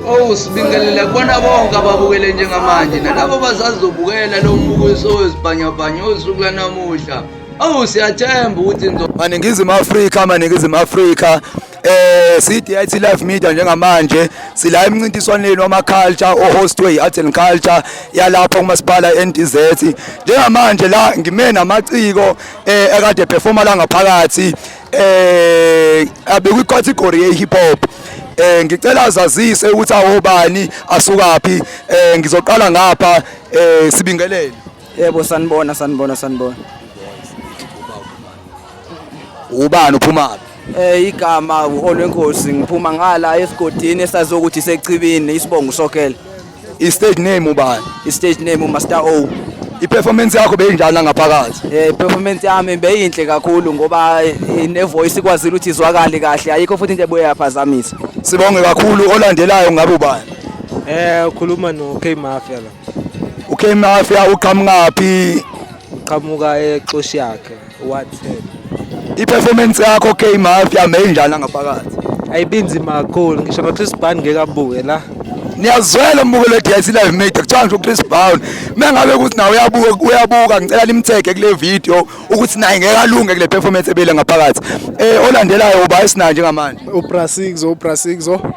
Oh sibingelela kubona bonke ababukele njengamanje nalabo bazazobukela lo mbukiso wezibhanyabhanya osuku lanamuhla awu siyathemba ukuthi maningizimu afrika maningizimu afrika eh CDIT Live Media njengamanje sila emncintiswaneni wama culture ohostwe iArt and Culture yalapha kumasipala eNTZ njengamanje la ngime namaciko eh ekade performa la ngaphakathi eh abekwi category ye hip hop eh ngicela azazise ukuthi awobani asukaphi eh ngizoqala ngapha eh sibingelele Yebo sanibona sanibona sanibona. Ubani uphuma Eh igama uOlwenkosi ngiphuma ngala esigodini esazi ukuthi sechibini isibongo sokela. I stage name ubani? I stage name uMaster O. I performance yakho beyinjani ngaphakathi? Eh performance yami beyinhle kakhulu ngoba ne voice ikwazile ukuthi izwakale kahle ayikho futhi into ebuye yaphazamisa. Sibonge kakhulu olandelayo ngabe ubani? Eh ukhuluma no K Mafia la. ukmafia uqhamukaphi uqhamuka exoshi yakhe wathela i-performance yakho k mafia meyinjani angaphakathi ayibinzima kakhulu ngisho nochris ban ngeke abuke la niyazwela umbuko le-DIC live media kuthiwa ngisho uChris Brown mengabe ukuthi nawe uyabuka uyabuka ngicela nimthege kule video ukuthi naye ngeke alunge kule performance ebele ngaphakathi eh olandelayo uba esinanje ngamanje uBrasixo uBrasixo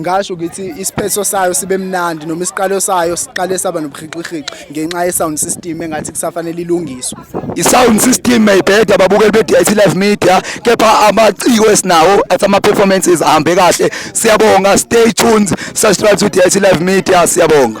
ngasho ukuthi isiphetho sayo sibe mnandi noma isiqalo sayo siqale saba nobuhixihixi ngenxa ye-sound system engathi kusafanele ilungiswe i-sound system mayibheda babukeli be-dit live media kepha amaciko esinawo athi ama-performances ahambe kahle siyabonga stay tuned subscribe to dit live media siyabonga